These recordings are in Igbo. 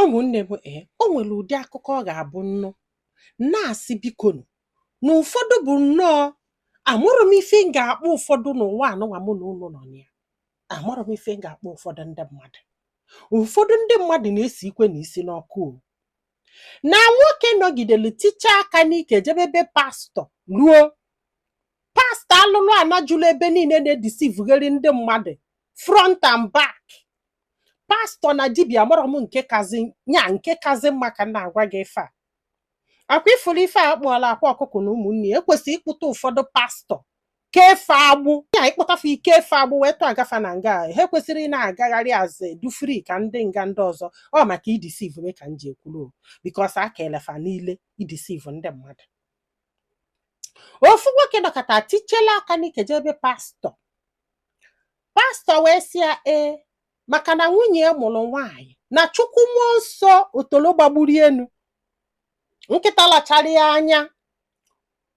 Ụmụnne m ee, eh, o nwere ụdị akụkọ ọ ga-abụ nnụ na-asị bikonu na ụfọdụ bụ nnọọ amarọ m ife m ga-akpọ ụfọdụ n'ụwa anụnwa mụ na unu nọ na ya amarọ m ife m ga-akpọ ụfọdụ ndị mmadụ ụfọdụ ndị mmadụ na-esi ikwe na isi n'ọkụ o na nwoke nọgidere tichaa aka n'ike jebe be pastọ ruo pastọ alụlụ ana juru ebe niile na-edisivugharị ndị mmadụ front and back pastọ na dibịa amarọ m nke kazi nya nke kazi mma ka m na-agwa gị ife a ọ kwa ị fụrụ ife a kpụọla akwa ọkụkọ na ụmụnne ya e kwesịrị ịkpụta ụfọdụ pastọ kee fa agbụ ya ịkpụta fa ike fa agbụ wee tụọga fa na nga ha ekwesịrọ ị na-agagharị aze dụ free ka ndị nga ndị ọzọ ọ maka idisiv ka m ji ekwuru because aka ọlụ fa niile idisiv ndị mmadụ ofu nwoke nọkata tichela aka n'ike jee be pastọ pastọ wee sị ya ee maka na nwunye ya mụrụ nwaanyị na chukwu mmụọ nsọ otolo gbagburu enu nkịta lachara ya anya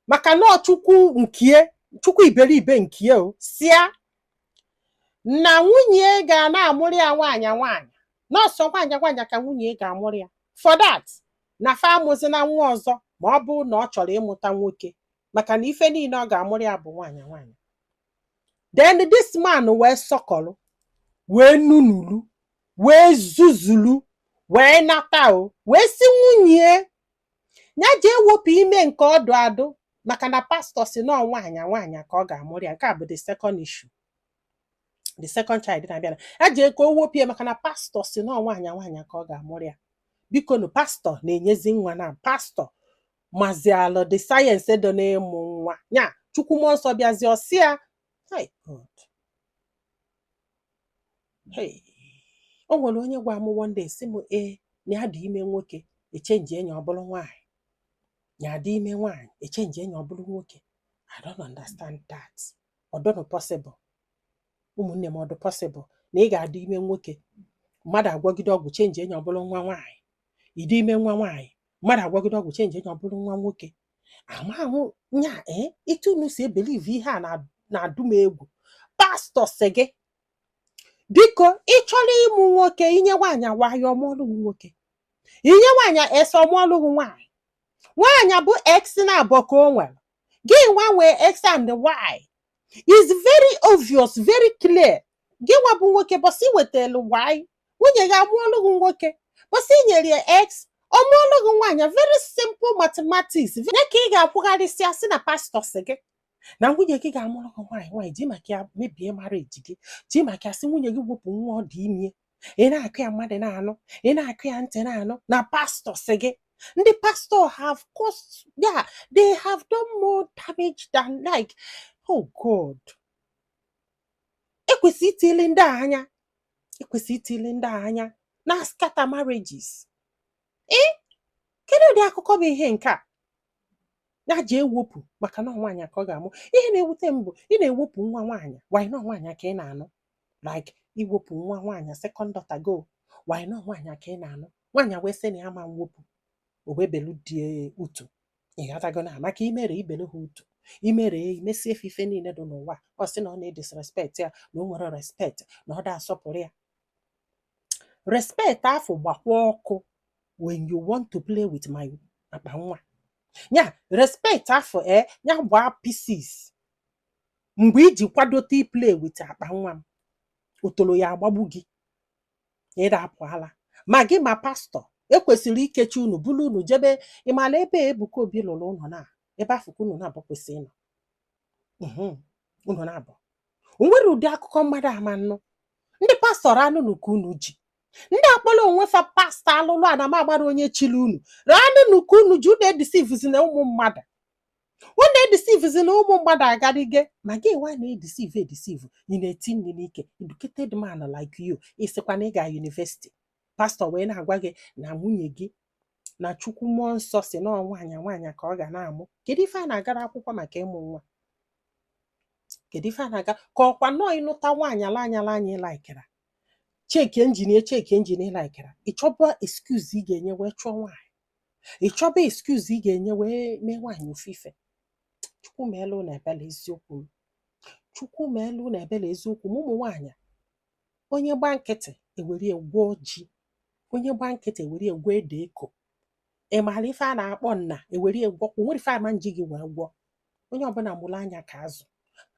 maka na ọ chukwu nkie chukwu iberibe nkie ọ sị ya na nwunye ya ga na-amụrụ ya nwaanyị nwaanyị na ọ sọ nwaanyị nwaanyị ka nwunye ya ga-amụrụ ya for that na fa amụzina nwa ọzọ ma ọ bụrụ na ọ chọrọ ịmụta nwoke maka na ife niile ọ ga-amụrụ ya bụ nwaanyị nwaanyị then this man wee sọkọrọ wee nunulu wee zuzulu wee nata o wee sị nwunye ya jee wepụ ime nke ọ dụ adụ maka na pastọ sị na nwaanyị nwaanyị ka ọ ga-amụrụ ya nke a bụ the second issue the second child na-abịa na ya jee ka o wepụ ya maka na pastọ sị na nwaanyị nwaanyị ka ọ ga-amụrụ ya bikonu pastọ na-enyezi nwa na pastọ mazịalụ the science dị n'ịmụ nwa ya chukwu mmụọ nsọ bịazi ọ sị ya "Hai, God. Hey. o nwere onye gwa m one day sị m ee na ya dị ime nwoke echenjie nya ọ bụrụ nwaanyị ya dị ime nwaanyị echenjie nya ọ bụrụ nwoke I don't understand that. ọ dụnụ possible ụmụnne m ọ dụ possible na ị ga-adị ime nwoke mmadụ agwọgide ọgwụ chenjie nya ọ bụrụ nwa nwaanyị ị dị ime nwa nwaanyị mmadụ agwọgide ọgwụ chenjie nya ọ bụrụ nwa nwoke amahụ nya ee etu unu si ebelieve ihe a na- na-adụ m egwu pastọ sị gị biko ị chọrọ ịmụ nwoke i nye nwaanyị a y ọ mụọlụ gị nwoke i nye nwaanyị x ọ mụọlụ gị nwaanyị nwaanyị bụ x naabọ ka o nwere gị nwa nwee x and y is very obvious very clear gị nwa bụ nwoke bọsị i wetelu y nwunye gị amụọlụ gị nwoke bọsị i nyere ya x ọ mụọlụ gị nwaanyị very simple mathematics ya ka ị ga-akwụgharịsịa sị na pastọ sị gị na nwunye gị ga-amụrụ gị nwaanyị nwaanyị ji maka ya mebie marriage gị ji maka ya sị nwunye gị wepụ nwa ọ dị ime ị na-akọ ya mmadụ na-anụ ị na-akọ ya ntị na-anụ na pastọ sị gị ndị pastọ have caused yeah they have done more damage than like oh God e kwesị itinyelu ndị a anya e kwesị itinyelu ndị a anya na scatter marriages ee kedu ụdị akụkọ bụ ihe nke a ya ji ewepụ maka na ọ nwaanyị ka ọ ga-amụ ihe na-ewute m bụ ị na-ewepụ nwa nwaanyị while na ọ nwaanyị ka ị na-anụ like iwepụ nwa nwaanyị second daughter gị while na ọ nwaanyị ka ị na-anụ nwaanyị wee sị na ya ma mwepụ o wee belu di utu ị ghọtago na maka imere ibelu ha utu imere ya imesie ife ife niile dị n'ụwa ọ sị na ọ na-edisrespect ya na o nwerọ respect na ọ da asọpụrụ ya respect afụ gbakwaa ọkụ when you want to play with my akpa nwa ya respect afụ e ya gbaa pieces mgbe iji kwadote iplay with akpa nwa m otolo ya agbagbu gị ị da-apụ ala ma gị ma pastọ ekwesịrị ikechi unu buru unu jebe ịmala ebe Ebuka Obi lụrụ ụlọ na ebe afụ ka unu naabọ kwesị ịnọ mhm, unu naabọ o nwere ụdị akụkọ mmadụ ama nnụ ndị pastọ ranụnụ ka unu ji ndị akpọrọ onwe fa pastọ alụlụ ana m agbara onye chiri unu ranụnụ ka unu ji unu edeceivezina ụmụ mmadụ unu edeceivezina ụmụ mmadụ agarịge ma gị nwa na-edeceive edeceive ị na-eti nri n'ike educated man like you ị sịkwa na ị ga university pastọ wee na-agwa gị na nwunye gị na chukwu mmụọ nsọ sị na nwaanyị nwaanyị ka ọ ga na-amụ kedu ife a na-agara akwụkwọ maka ịmụ nwa kedu ife a na-aga ka ọkwa nọọ ị nụta nwaanyị ala anyala anyị laikera check engine check engine laikera ị chọba excuse ị ga-enye wee chụọ nwaanyị ị chọba excuse ị ga-enye wee mee nwaanyị ofufe chukwu meelu unu ebele eziokwu m chukwu meelu unu ebele eziokwu m ụmụ nwaanyị onye gba nkịtị e were ya gwọọ ji onye gba nkịtị e were ya gwọọ ede eko ị maara ife a na-akpọ nna ewere egwo kwụ nwere ife ama nji gị wee gwọ onye ọbụla mụrụ anya ka azụ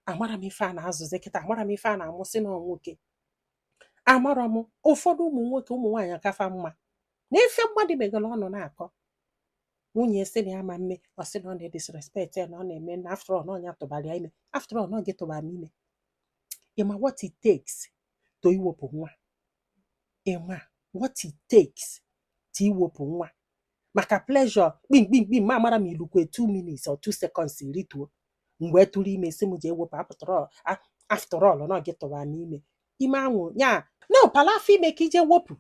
amarọ m ife a na-azụzi kịta amarọ m ife a na-amụsị na nwoke amarọ m ụfọdụ ụmụ nwoke ụmụ nwaanyị aka fa mma na ife mmadụ meghere ọnụ na-akọ nwunye sị na ya ma mme ọ sị na ọ na-edisrespect ya na ọ na-eme na after all na ọ nya tụbara ya ime after all na ọ gị tụbara m ime ịma what it takes to iwepụ nwa ịma what it takes to iwepụ nwa maka pleasure kpimkpimkpi ma amara m ilukwe 2 minutes or 2 seconds rituo mgbe tụrụ ime sị m jee wepụ after all na ọ gị tụbara m ime ime anwụ ya na ụpala afọ ime ka i je wepụ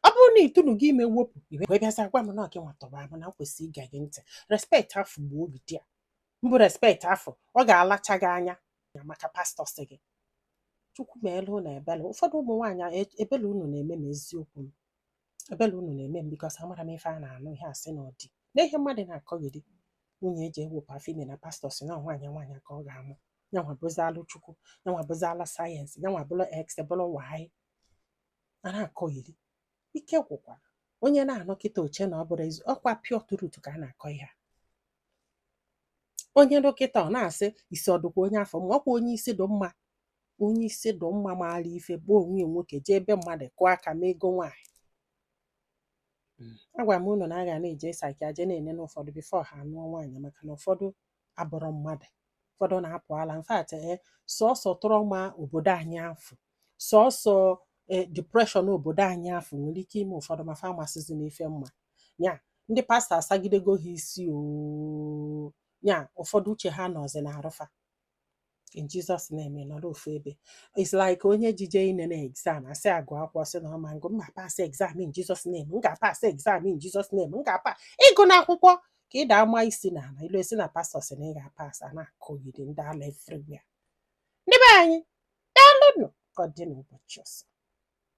ọ bụrụ na itunu gị ime wepụ i wee bịaza gwa m na gị nwa tọrọ m na kwesịrị ịga gị ntị respect afụ gbuo obi di ya mbụ respect afụ ọ ga-alacha gị anya maka pastọ sị gị chukwu meelu unu ebele ụfọdụ ụmụ nwaanyị ebele unu na-eme m eziokwu m ebele unu na-eme m because amara m ife a na-anụ ihe asị na ọdị na ihe mmadụ na-akọgheri nwunye ejee wepụ afọ ime na pastọ sị na nwaanyị nwaanyị ka ọ ga-amụ yanwa bụzi alụ chukwu yanwa bụzi ala science yanwa bụlụ x bụlụ y a na-akọgheri ike gwụkwara onye na-anụ kịta o chee na ọ bụrọ ezi ọkwa pure truth ka a na-akọ ihe a onye nụ kịta ọ na-asị isi ọ dụkwa onye afụ mma ọkwa onye isi dụ mma onye isi dụ mma maara ife bụ onwe nwoke jee ebe mmadụ kụọ aka mee ego nwaanyị hmm. agwa m unu na a ga na-eje psychia je na-ene ụfọdụ before ha anụọ nwaanyị maka na ụfọdụ abụrọ mmadụ ụfọdụ na-apụ ala in fact ee eh, sọsọ trauma obodo anyị afụ sọsọ eh, depression obodo anyị afụ nwere ike ime ụfọdụ ma fa amasịzi n'ife mma ya ndị pastọ asagidego ha isi oo nya ụfọdụ uche ha nọzi na arụfa in Jesus name ị nọrọ ofu ebe it's like onye jije inene exam a sị ya gụọ akwụkwọ sị na ọ ma ngụ m ga-apas exam in Jesus name m ga-apas exam in Jesus name m ga-apa ị gụna akwụkwọ ka ị daa ma isi na ala i lue sị na pastọ sị na ị ga-apas a na-akọgheri ndị ala everywhere ndị be anyị daalụnụ ka ọ dị n'ụbọchị ọzọ